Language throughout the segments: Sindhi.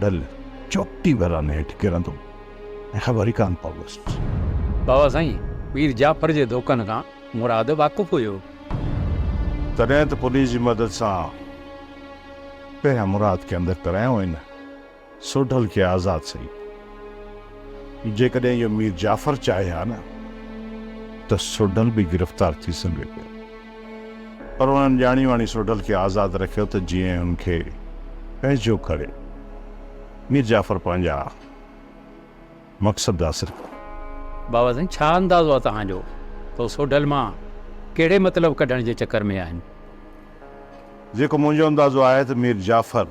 ڍل چوٽي ويران هيٺ ڪرندو ۽ خبر ئي ڪانه پويس. بابا سائين مير جعفر جي ڌوڪن کان مراد واقف هيو. تڏهن ته پوليس جي مدد سان پهريان مراد کي اندر ڪرايائون ۽ نه سوڍل کي آزاد سهي. جيڪڏهن اهو مير جعفر چاهي ها نه ته سوڍل به گرفتار ٿي سگهي پيو. پر انهن ڄاڻي واڻي سوڍل کي آزاد رکيو ته جيئن هن کي پنهنجو ڪري مير جعفر پنهنجا مقصد حاصل ڪن. بابا سائين ڇا اندازو آ توهان جو ته هو سوڍل مان ڪهڙي مطلب ڪڍڻ جي چڪر ۾ آهن؟ جيڪو منهنجو اندازو آهي ته مير جعفر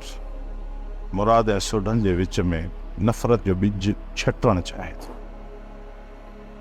مراد ۽ سوڍل جي وچ ۾ نفرت جو ٻج ڇٽڻ چاهي ٿو.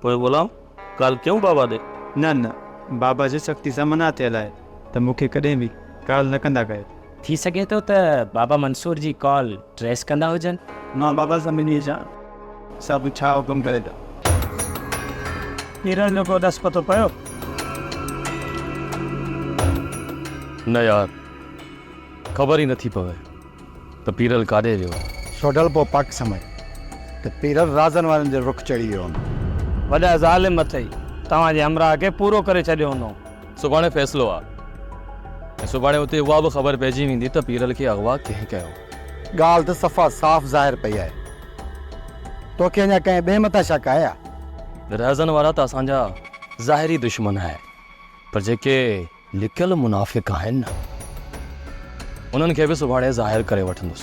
پوء غلام ڳالهه ڪيون بابا ڏي. نه نه بابا جي سختي سان منع ٿيل آهي ته مون کي ڪڏهن به ڪال نه ڪندا ڪيو. ٿي سگهي ٿو ته بابا منصور جي ڪال ٽريس ڪندا هجن. مان بابا سان ملي اچان سڀ ڇا حڪم ڪري ته. پيرن جو ڪو ڏس پتو پيو. نه يار خبر ئي نٿي پوي. ته پيرل ڪاڏي ويو هو؟ سوڍل پوء پڪ سمجهي ته پيرل رازن وارن جي رخ چڙهي ويو هوندو. وڏا ظالم اٿئي، توهان جي همراهه کي پورو ڪري ڇڏيو هوندو. سڀاڻي فيصلو آ ۽ سڀاڻي اتي اها به خبر پئجي ويندي ته پيرل کي اغوا ڪنهن ڪيو. ڳالهه ته صفا صاف ظاهر پئي آهي. توکي اڃا ڪنهن ٻئي مٿان شڪ آهي ڇا؟ رازن وارا ته اسان جا ظاهري دشمن آهن پر جيڪي لڪيل منافق آهن، انهن کي به سڀاڻي ظاهر ڪري وٺندس.